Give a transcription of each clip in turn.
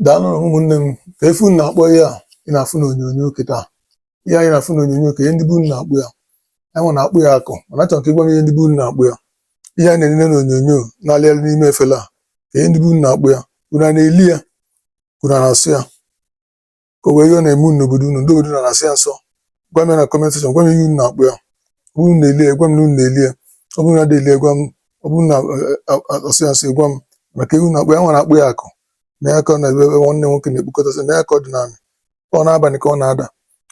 daalụ nụ ụmụnne m kee ife unu na-akpọ ihe a ị na-afụ n'onyonyo kịta ihe a ị na-afụ n'onyonyo kee ihe ndị be unu na-akpọ ya anyị na-akpọ ya akụ mana achọrọ m ka ị gwa m ihe ndị be unu na-akpọ ya ihe a na-enene n'onyonyo na-alị alị n'ime efele a kee ihe ndị be unu na-akpọ ya unu na-eli ya ka unu na-asọ ya ka o nwee ihe ọ na-eme unu n'obodo unu ndị obodo unu na-asọ ya nsọ gwa m ya na comment section gwa m ihe unu na-akpọ ya ọ bụrụ unu na-eli ya gwa m na unu na-eli ya ọ bụrụ na adị eli ya gwa m ọ bụrụ unu na-asọ ya nsọ gwa m maka ihe unu na-akpọ ya anyị na-akpọ ya akụ nee ya ka ọ na-ebe ebe nwanne nwoke na-ekpokọtasị nee ya ka ọ dị n'ana ọ n'abalị ka ọ na-ada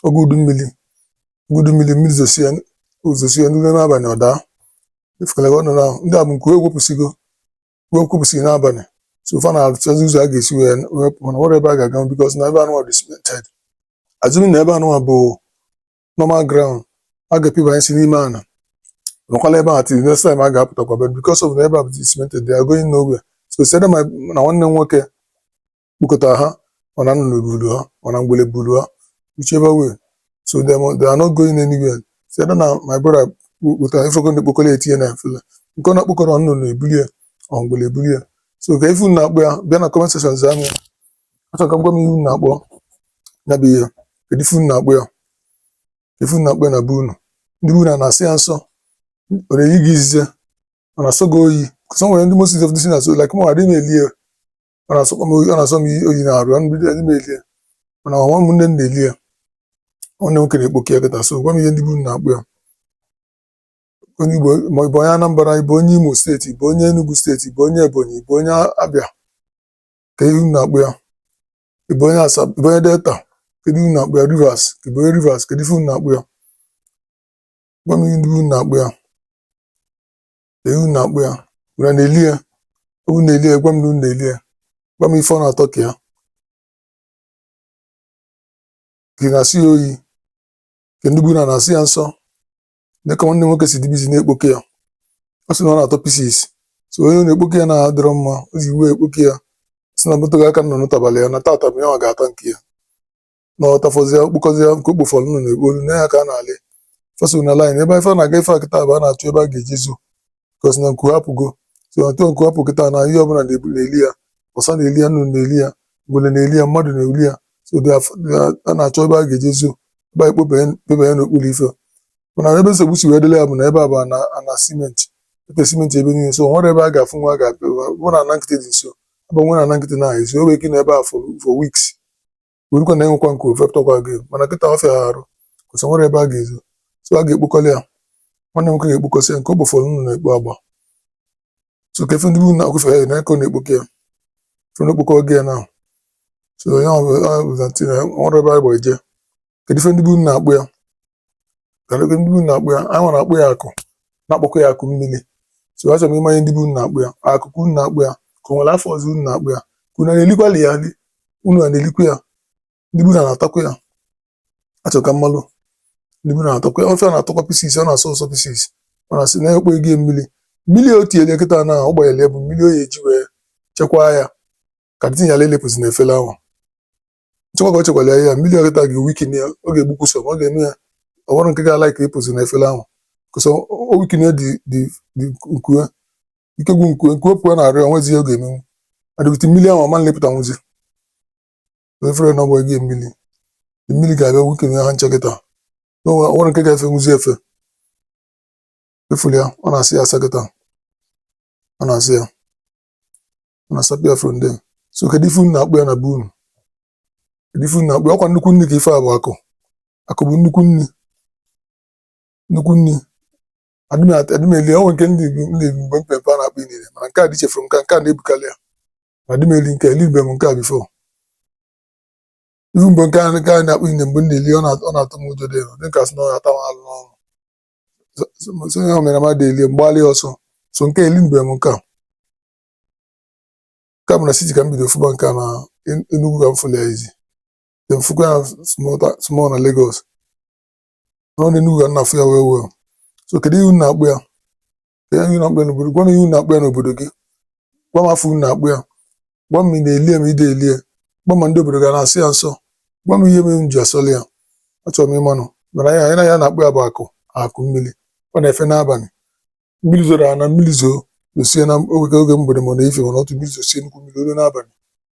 oge udu mmiri oge udu mmiri mmiri zosie o zosie n'ime n'abalị ọ daa ị fụkwala ka ọ nọ na ndị a bụ nke o wepụsịgo nku nku pụsị n'abalị so fa na-achọzi ụzọ a ga-esi wee wee pụọ mana o nwerọ ebe a ga-aga because na ebe anụwa dị cemented assuming na ebe anụwa bụ normal ground a ga-epibanyesị n'ime ana nọkwala ebe a till next time a ga-apụtakwa but because of na ebe a bụ cemented they are going nowhere so it's either na nwanne m nwoke kpokọta ha or na nnụnụ bulu ha or na ngwele bulu ha whichever way so they, mo- they are not going anywhere it's either na my brother kpokọta ị fụgo ndị o kpokọrọ tinye na efele nke ọ na-ekpokọrọ nnụnụ ebuli ya or ngwele ebuli ya so kee ife unu na-akpọ ya bịa na comment section zaa m ya achọrọ m ka unu gwa m ihe unu na-akpọ ya bụ ihe kedu ife unu na-akpọ ya ife unu na-akpọ ya na be unu ndị be unu a na-asọ ya nsọ ọ na-eyi gị izize ọ na-asọ gị oyi because o nwere ndị most of this na-asọ like mụ adịghị m eli ya ọ na-asọkwa m oyi ọ na-asọ m oyi n'arụ ya mbido adị m eli ya mana ọ nwanne m na-eli ya nwanne nwoke na-ekpokọ ya kịta so gwa m ihe ndị be unu na-akpọ ya onye Igbo ma ị bụ onye Anambra ị bụ onye Imo state ị bụ onye Enugu state ị bụ onye Ebonyi ị bụ onye Abịa kedu ihe unu na-akpọ ya ị bụ onye Asaba ị bụ onye Delta kedu ihe unu na-akpọ ya Rivers ị bụ onye Rivers kedu ihe unu na-akpọ ya gwa m ihe ndị be unu na-akpọ ya ihe unu na-akpọ ya unu na-eli ya unu na-eli ya gwa m na unu na-eli ya gwa m ife ọ na-atọ ka ya ka ị na-asọ ya oyi ka ndị be unu a na-asọ ya nsọ nee ka nwanne m nwoke si dị busy na-ekpokọ ya ọ sị na ọ na-atọ pieces so onye ọ na-ekpokọ ya na-adịrọ mma o ji iwe ekpokọ ya ọ sị na moto gị aka nọ n'ụtabalị ya na tata bụ ya ọ ga-ata nke ya na ọ tafọzie o kpokọzie nke o kpofọrọ nụ na-ekpo olu nee ya ka a na-alị fa so na line ebe ife a na-aga ife a kịta bụ a na-achọ ebe a ga-eji zo because na nku ha apụgo so na otu nku ha pụ kịta na ihe ọbụla na-ebu na-eli ya ọsa na-eli ya nnụnụ na-eli ya ngwele na-eli ya mmadụ na-eli ya so dị af- dị a- a na-achọ ebe a ga-eji zo ebe a ekpobanye n'okpuru ife mana ebe nsogbu si wee dịlị ya bụ na ebe a bụ ana ana cement etee cement ebe niile so o nwerọ ebe a ga-afụ nwa a ga-abịa bụ na ana nkịtị dị nso ebe nwere ana nkịtị na-ahụ ezi o nwere ike nọ ebe a for for weeks werukwa na enwekwa nke ofe tọkwa gị mana kịta ọ fịa ha arụ kwụsị nwere ebe a ga-ezo so a ga-ekpokọli ya nwanne nwoke ga-ekpokọsị ya nke ọ bụ fọrọ unu na-ekpo agba so ka efe ndị bụ na akwụfe ya na aka ọ na-ekpokọ ya fe na okpokọ gị ya na so ya ọ bụ- ọ bụ na tina nwere ebe a gba eje kedu ife ndị be unu na-akpọ ya ndị na-akpọ ya anyị nwa na-akpọ ya akụ na-akpọkwa ya akụ mmiri so achọ m ịma ife ndị be unu na-akpọ ya akụ ka unu na-akpọ ya ka o nwere afa ọzọ unu na-akpọ ya ka unu na-elikwali ya ndị unu na-elikwa ya ndị be unu na-atakwa ya achọ ka m malụ ndị be unu na-atakwa ya ife a na-atọkwa pieces ọ na-asọ ụsọ pieces ọ na-asị na-ekpo ego mmiri mmiri o tinyere kịta na ọ gbanyere ya bụ mmiri o ya-eji wee chekwaa ya ka dịtinyala elepụzi na efere ahụ chekwa ka o chekwara ya mmiri a kịta ga-eweaken ya ọ ga-egbukwu some ọ ga-eme ya o nwerọ nke ga-ala ka ịpụzi na efere ahụ 'cause ọ weaken dị dị dị nku e ike gwụ nku e nku e pụọ na arịa o nwezi ihe ọ ga-emenwu adịgide mmiri ahụ ọ ma-alịpụtanwuzi efere na ọgbọ gị mmiri mmiri ga-abịa weaken ha nche kịta na o nwerọ nke ga-efenwuzi efe ị fụlụ ya ọ na-asa ya asa kịta ọ na-asa ya na-asapụ ya from there so kedu ife unu na-akpọ ya na be unu kedu ife unu na-akpọ ya ọ kwa nnukwu nri ka ife a bụ akụ akụ bụ nnukwu nri nnukwu nri adị m eli o nwe nke ndị Igbo ndị Igbo mgbe mpempe a na-akpọ inine mana nke a dị chefuru nke a, nke a na-ebukarị ya ma adị m eli nke a, elibe m nke a before ihu mgbe nke a nke a na-akpọ inine mgbe m na-eli ọ na- ọ na-atụ m ụjọ dị elu dị ka sị na ọ na-ata m alụ n'ọnụ so so- so ihe o mere m adị eli m gbalị ọsọ so nke eli mgbe m nke a ka bụ na city ka m bido fụba nke a na En- Enugu ka m fụlụ ya izi then fụkwa ya small ta- small na Lagos nọ na Enugu ka m na-afụ ya well well so kedu ihe unu na-akpọ ya kedu ihe unu na-akpọ ya n'obodo gwa m ihe unu na-akpọ ya n'obodo gị gwa m afa unu na-akpọ ya gwa m ma ị na-eli ya ma ị na-eli ya gwa m ma ndị obodo gị na-asọ ya nsọ gwa m ihe mere m ji asọli ya achọrọ m ịmanụ mana ihe anyị nwa na-akpọ ya bụ akụ akụ mmiri ọ na-efe n'abalị mmiri zoro ana mmiri zoo zosie na oge oge mgbede ma ọ na-efe mana otu mmiri zosie nnukwu mmiri o lu n'abalị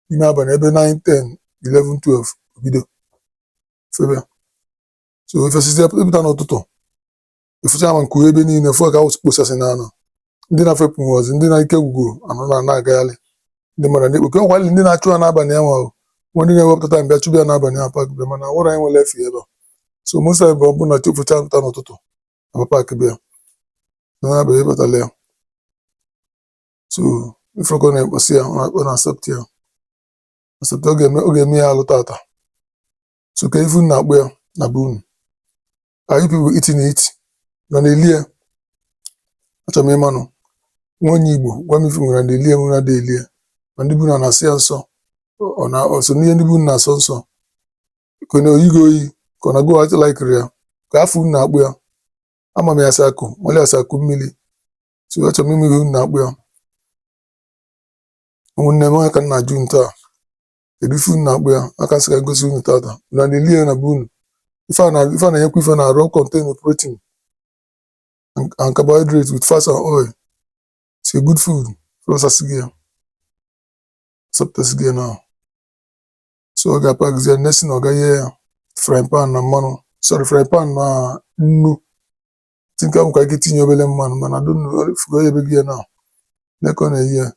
n'ime abalị ebe 9 10 11 12 o bido febe so efesizie ị pụta n'ụtụtụ ị fụcha ma nku e ebe niile fụọ ka awụsị kposasị na ana ndị na-efepụnwuzi ndị na ike gwugoro anọ na ana agagharị ndị mmadụ ndị oke ọkwali ndị na-achụ ya n'abalị ya nwahụ nwa ndị na-ewepụta time bịa chụbịa n'abalị ya packbe mana nwere anyị nwere efe ebe a. so mosa bụ ọ bụ na chi focha pụta n'ụtụtụ ama paakị bịa n'anya bụ ịbatala ya so ị fụrụ ka ọ na-ekposi ya ọ na-asapụta ya asapụta ọ ga-eme ọ ga-eme ya alụ tata so kee ife unu na-akpọ ya na be unu are you people eating it unu na-elie achọrọ m ịmanụ nwa onye igbo gwa m if unu na-elie unu a na-elie ma ndị be unu a na-asọ ya nsọ ọ na-eso n'ihe ndị be unu na-asọ nsọ ka ọ na-oyi gị oyi ka ọ na go out like iri ya kee afa unu na-akpọ ya ama m ya as akụ malụ ya as akụ mmiri so achọrọ m ịma ihe unu na-akpọ ya ụmụnne m ọ ya ka m na-ajụ unu taa kedu ife unu na-akpọ ya ka m sị ka m gosi unu tata na na-eli ya na be unu ife a na- ife a na-enyekwa ife n'arụ contain protein and and carbohydrate with fats and oil it's a good food so ọ sasịgo ya sapụtasịgo ya now so ọ ga-apakzie next thing ọ ga-eye ya frying pan na mmanụ sorry frying pan na nnu think a nwekwa ike itinye obere mmanụ mana donu fụgo ya o yebego ya now nee ka ọ na-eye ya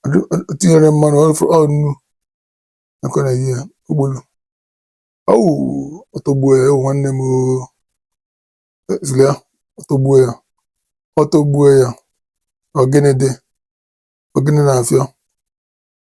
Adu- o tinyere mmanụ ọ fụ- ọ nnu nee ka ọ na-eye ya ogbulu ọwụ ọ tọgbuo ya ewu nwanne m oo. E- zulia ọ tọgbuo ya ọ tọgbuo ya ọgịnị dị ọgịnị na-afịọ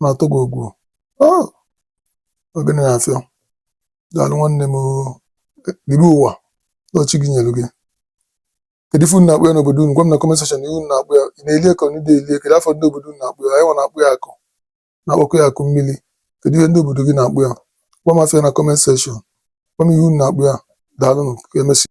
na-atọ gị ọgwụ Oh, ọgịnị na-afịọ daalụ nwanne m oo. libe ụwa na chi gị nyere gị kedu ife unu na-akpọ ya n'obodo unu gwa m na comment section ihe unu na-akpọ ya ị na-elie ka ị dị elie kedu afa ndị obodo unu na-akpọ ya anyị nwa na-akpọ ya akụ na-akpọkwa ya akụ mmiri kedu ihe ndị obodo gị na-akpọ ya gwa m afa ya na comment section gwa m ihe unu na-akpọ ya daalụnụ ka emesịa